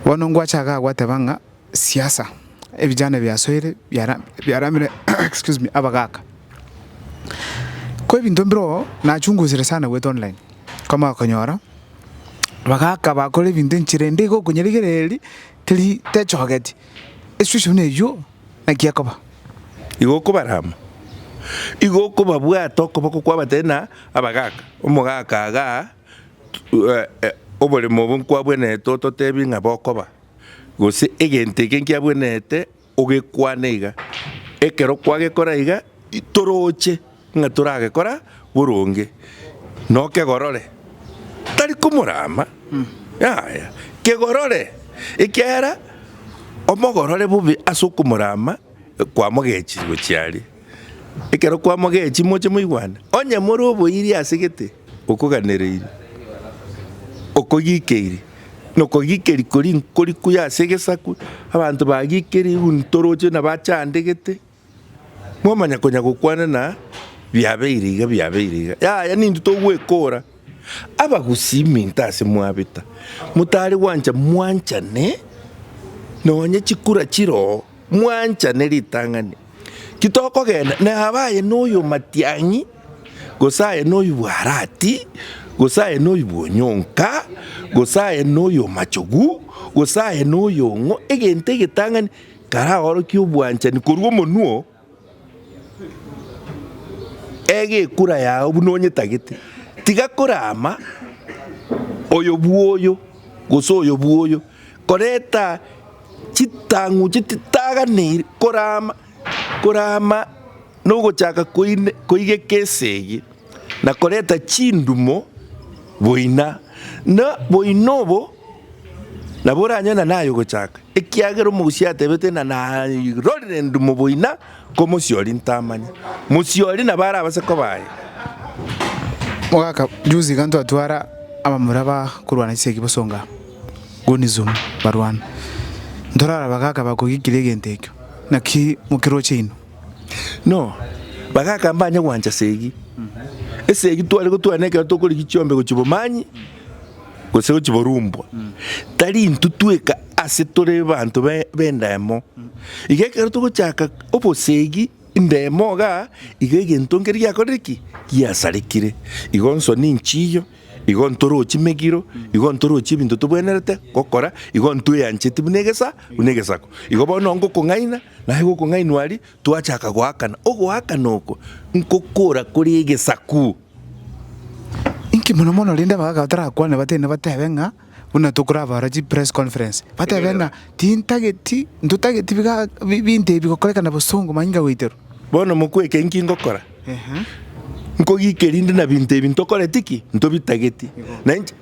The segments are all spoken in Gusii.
Bono ngwacha iga gwateba ng'a siasa ebijana ebiasoire biara biaramire excuse me abagaka. Ko ebinto mbire oo nachungusire sana goeta online, nkomanya konyora abagaka bakora ebinto enchera ende iga okonyarigereria teri techogeti, esitueshon buna eywo naki ekoba. Igo okobarama, igo okobabwata okoboko kwabatebia buna abagaka, omogaka igaa. Oboremo obo nkwabwenerete ototebi ng'a bokoba, gose egento eke nkiabwenerete ogekwane iga. Ekero kwagekora iga, toroche ng'a toragekora boronge, nokegorore, tari komorama, yaya, kegorore, ekiagera omogorore bobe ase okomorama kwamogechire gochia aria. Ekero kwamogechie moche moigwane, onye more oboirie ase gete. Okoganereiri, okogikeiri, na okogikeri koria nkori kuya ase egesaku, abanto bagikeri ntoroche na bachandegete, mwamanya konya gokwana na biabeire iga biabeire iga. Yaya ninto togwekora abagusii minto ase mwabeta, motari gwancha mwanchane nonye chikura chiroo, mwanchane ritang'ani. Titokogenda, na abe aye noy'omatiang'i, gose aye noy'obwarati, gose aye noy'obwonyonka, gose aye noy'omochogu, gose aye noy'ong'o, egento egetang'ani karaorokie obwanchani korwa omonwa oo, ege ekura yao buna onyetagete, tiga korama oyo bw'oyo, gose oyo bw'oyo. koreta chitang'u chititaganeiri korama korama nogochaka koine koigeka esegi, na koreta chindumo boina. Na boina obo nabo oranyore na naye ogochaka, ekiagera omogusia atebete ng'a narorire endumo boina. Komosiori ntamanya. Mosiori nabo arabase koba aye. Ogaka juzi iga ntwatwara abamura ba korwana chisegi bosonga Gunizumu barwana. Ntorara bagaka bakogikire egento ekio. Naki mokiroche inwe. No, bagaka mbanye gwancha segi. Esegi tware gotwara nekero tokorigia chiombe gochia obomanyi. gose gochiborumbwa, tari intwe tweka ase tore abanto b'endemo. Iga ekero togochaka obosegi endemo igaa, iga egento nkere giakorire ki? Giasarekire. Igo nsoni nchiyo, igo ntoro chimegiro, igo ntoro chibinto tobwenerete gokora, igo ntweancheti buna egesa buna egesaku. Igo bono ngokong'aina, naye gokong'ainwa aria, twachaka goakana. Ogoakana oko, ngokora kore egesaku. Inki mono mono rende abagaaka batarakwane batebane nebatebe ng'a buna tokorabara chipress conference, batebe ng'a tintageti ntotageti biga binto ebi gokorekana bosongo manyinga goiterwa. Bono mokweke inki ngokora? Nkogike rinde na binto ebi ntokoreti ki? Ntobitageti. Na inche.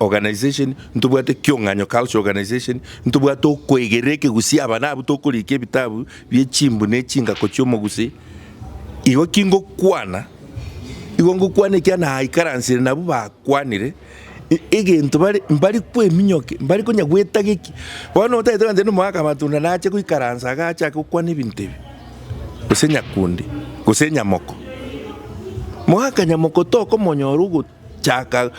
Organization, ntobwate kiong'anyo, culture, organization, ntobwate okoegerera ekegusi aba nabwo tokorikia ebitabu bie chimbu ne chingako chi'omogusi, igo ki ngokwana? Igo ngokwana ekiagera naikaransire nabwo bakwanire, egento bare mbari kweminyokia, mbari konya gwetagekia, bono otagete gose na omogaka amatunda nache goikaransa iga achake gokwana ebinto ebi, gose nyakundi, gose nyamoko. Mogaka nyamoko tokomonyora ogo. Chaka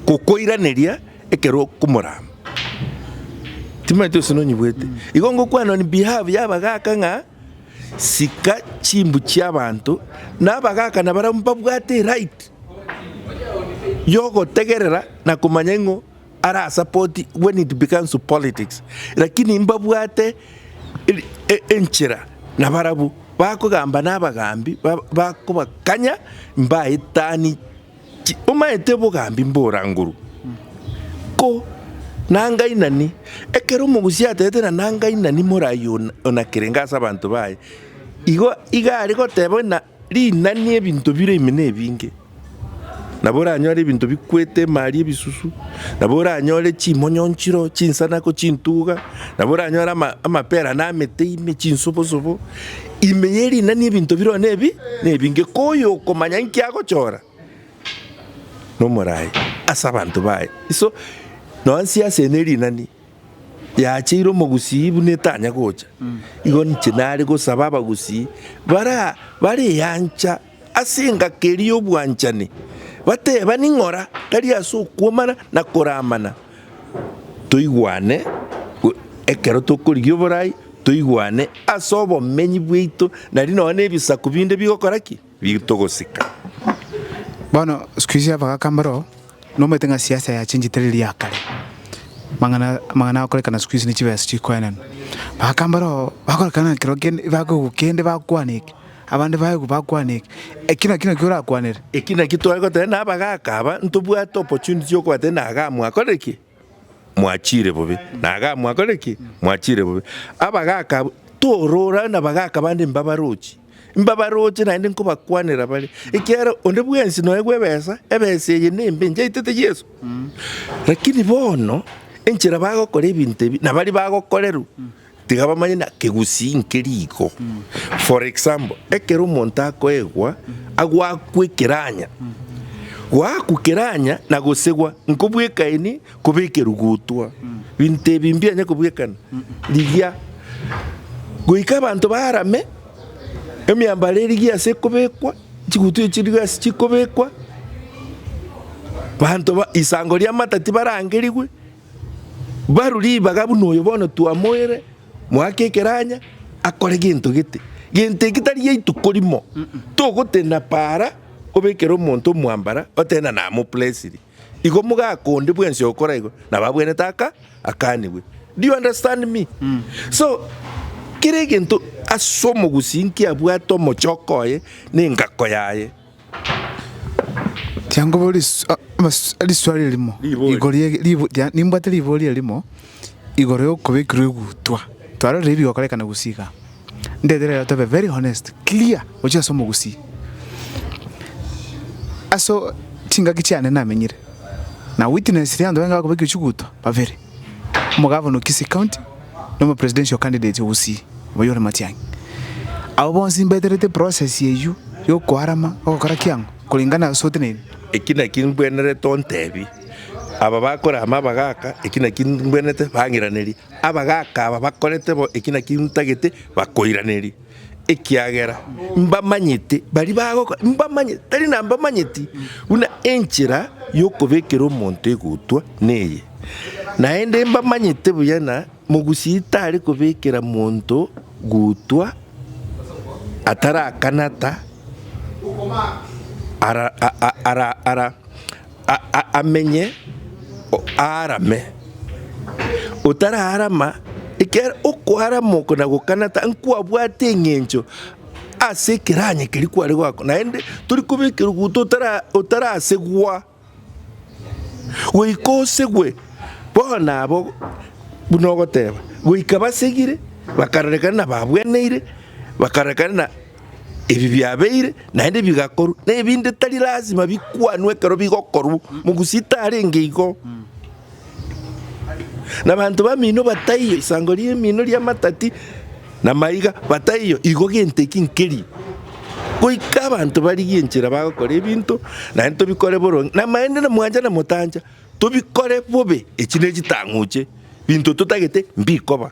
gokoiraneria ekero okomorama. Timanyeti gose nonyebwete. Igo ngokwana on behalf y'abagaaka ng'a sika chimbu chi'abanto, na abagaaka nabarabwo mbabwate eright yogotegerera na komanya ing'o. arasapoti when it becomes to politics lakini mbabwate enchera nabarabu bakogamba nabagambi bakobakanya mbaetani omaete obogambi mbora nguru ko nangainani ekero omogusi atete na nangainani morai onakerenge ase abanto baye igo iga aregoteba. Rinani ebinto bire ime nebinge, nabo oranyore ebinto bikwete emari ebisusu, nabo oranyore chimonyonchiro, chinsanako, chintuga, nabo oranyore amapera na amete ime, chinsobosobo. Ime ye rinani ebinto bire one ebi nebinge, ko oyokomanya inki agochora nomorai ase abanto baye. So, nonya siasa eye ne rinani. Yacheire omogusii buna etanya gocha, igo ninche nare gosaba abagusii bara bareancha ase engaki eria y'obwanchani, batebani ng'ora tari ase okwomana na koramana, toigwane ekero tokorigia oborai, toigwane ase obomenyi bwaito nari nonya na ebisaku binde bigokora ki? Bigotogosika. Bono sikuizi abagaka mbaroo Nomanyete ng'a siasa yachenchete riria ya kare, amang'ana amang'ana agokorekana sikuizi ne chibesa chikoenanwa. Baaka mbaroo bakorekana ng'a ekero kende bakoigwa kende bakwana eke, abande baigwa bakwana eke, eki naki nakio orakwanere. Eki naki tware goteba na abagaaka aba, ntobwate opportunity y'okobwateba na iga mwakorire ki? Mwachiire bobe. Na aga mwakorire ki? Mwachiire bobe. Abagaaka abwo, torora na abagaaka bande mbabarochi, mbabaroche naende nkobakwanera bare, ekiagera onde bwensi noegwe ebesa, ebesa eye nembe njaetete Yeso. Lakini bono enchera bagokora ebinto ebi, nabari bagokorerwa. Tiga bamanye na kegusii nke riko. For example, ekero omonto akoegwa agwakwa ekeranya, goakwa keranya na gosegwa nkobwekaini koba ekerugutwa. Binto ebi mbianya kobwekana rigia goika abanto barame emiambaro erigia ase ekobekwa, chigutwa echi chirigo ase chikobekwa, banto ba isango ri'amata tibarangerigwe, Barwe ribaga buna oyo bono twamoeire mwake ekeranya akore gento gete. Gento eki tari gia ituko rimo. Togotenena para obekere omonto omwambara otenena namoplesiri. Igo mogaka onde bwensi ogokora igo nabo abwenete aka akanigwe. Do you understand me? So kera egento ase omogusii nkiabwate omochoko oye na engako yaye. Changu bo ris- a- mas- riswali erimo Riboria. igoro ye ribo ria nimbwate ribori erimo igoro ya okobekirwa egutwa, twarorire ebigokorekana gusii igaa. Ndete rero tobe very honest, clear gochia ase omogusii. Aso chingaki chiane namenyire, na witness ria abanto baye bakobekire chigutwa, babere. omogavana o Kisii County, na omopresidential candidate o Gusii, Wayori Matiang'i. Abwo bonsi mbaeterete eprocess eyio yokoarama ogokora kiang'o korengana ase oteneine. Eki nakio mbwenerete ontebie aba bakorama abagaka, eki nakio mbwenerete bang'iranerie abagaka aba bakorete bo, eki nakio ntagete bakoiranerie. ekiagera mbamanyete baria bagokora, mbamanyete, tari nambamanyeti, buna enchera y'okobekera omonto egutwa neye. Naende mbamanyete buya ng'a mogusi tare kobekera monto gutwa atarakanata ara, ara, ara, ara. amenye aarame. Otaraarama, ekero okoarama oko na gokana ta nkwabwate eng'encho ase ekeranya keria kware goakora, naende tori kobeka eruguto otarasegwa, goika osegwe bono nabo buna ogoteba goika basegire bakarorekana nababweneire, bakarorekana. Ebi biabeire naende bigakorwa, na ebinde tari lasima bikwanwe ekero bigokorwa, mogusi tarenge igo. Nabanto bamino bataiyo isango ri'emino ri'amatati na maiga, bataiyo igo gento eki nkeri, goika abanto barigie enchera bagokora ebinto naende tobikore boronge, na maende na mwancha na motancha tobikore bobe, echi ne chitang'uche, binto totagete mbikoba.